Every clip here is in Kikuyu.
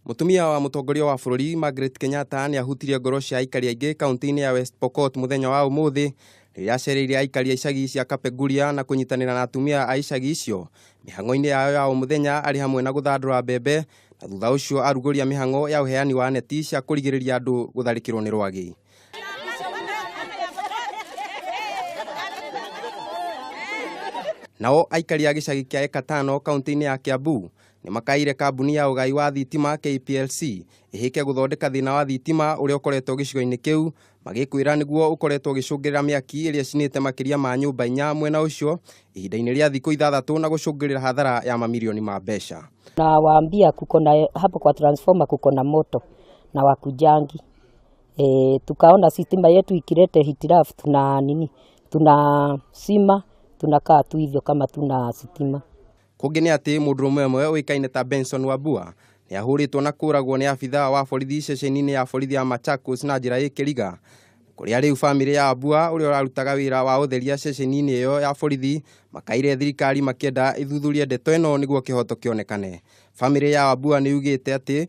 Mũtumia wa mũtongoria wa bũrũri Margaret Kenyatta nĩ ahutirie ngoro cia aikari aingĩ kaunti-inĩ ya West Pokot mũthenya wa ũmũthĩ rĩrĩa acereire aikari a icagi cia Kapenguria na kũnyitanĩra na atumia a icagi icio mĩhang'o-inĩ yao ya o mũthenya arĩ hamwe na gũthandũra mbembe na thutha ũcio arugũria mĩhang'o ya ũheani wa neti cia kũrigĩrĩria andũ gũtharĩkĩrwo nĩ rwagĩ. Nao aikari a gĩcagi kĩa Ekatano kaunti-inĩ ya Kiambu nĩ makaire kambuni ya ũgai wa thitima KPLC ĩhĩke gũthondeka thĩna wa thitima ũrĩa ũkoretwo gĩcigo-inĩ kĩu magĩkwĩra nĩguo ũkoretwo ũgĩcũngĩrĩra mĩaki ĩrĩa cinĩte makĩria ma nyũmba inya mwena ũcio ihinda-inĩ rĩa thikũ ithathatũ na gũcũngĩrĩra hathara ya mamirioni ma mbeca. na waambia kuko na hapo kwa transformer kuko na moto na wakujangi e, tukaona sitima yetu ikilete hitilafu tuna nini, tuna sima tunakaa tu hivyo kama tuna sitima. Kũngĩ nĩ atĩ mũndũrũme ũmwe ũĩkaine ta Benson Wambua nĩ ahũrĩtwo na kũragwo nĩ abithaa wa borithi ceceni-inĩ ya borithi ya Machakos na njĩra ĩkĩriga kũrĩa rĩu bamĩrĩ ya Wambua ũrĩa ũrarutaga wĩra wa ũtheria ceceni-inĩ ĩyo ya borithi makaire thirikari makĩenda ĩthuthurie ndeto ĩno nĩguo kĩhoto kĩonekane. Bamĩrĩ ya Wambua nĩ yugĩte atĩ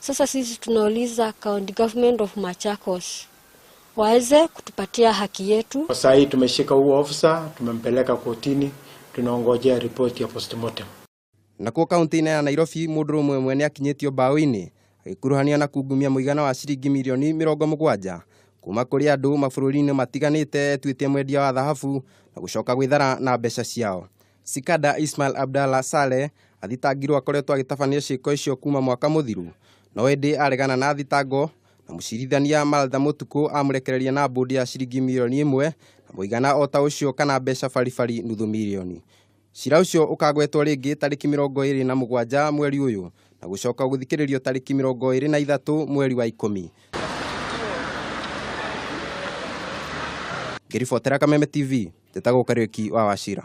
Sasa sisi tunauliza county government of Machakos waweze kutupatia haki yetu. Kwa saa hii tumeshika huo ofisa, tumempeleka kotini, tunaongojea ripoti ya postmortem. Nakuo kaunti-inĩ ya Nairobi mũndũ ũmwe mwene akinyĩtio mbaũ-inĩ agĩkuruhanio na kungumia mũigana wa ciringi mirioni mĩrongo mũgwanja kuma kũrĩ andũ mabũrũri-inĩ matiganĩte etuĩtie mwendia wa thahabu na gũcoka gwĩthara na mbeca ciao. Sikada Ismail Abdallah Saleh athitangirwo akoretwo agĩtabania ciĩko icio kuma mwaka mũthiru no ĩndĩ aregana na thitango na mũcirithania Malda Mũtukũ amũrekereria na mbũndi ya ciringi mirioni ĩmwe na mũigana o ta ũcio kana mbeca baribari nuthu mirioni. Cira ũcio ũkagwetwo rĩngĩ tarĩki mĩrongo ĩrĩ na mũgwanja mweri ũyũ na gũcoka gũthikĩrĩrio tarĩki mĩrongo ĩrĩ na ithatũ mweri wa ikũmi. Ngĩribotera Kameme TV. Njĩtagwo Kariũki wa Wachira.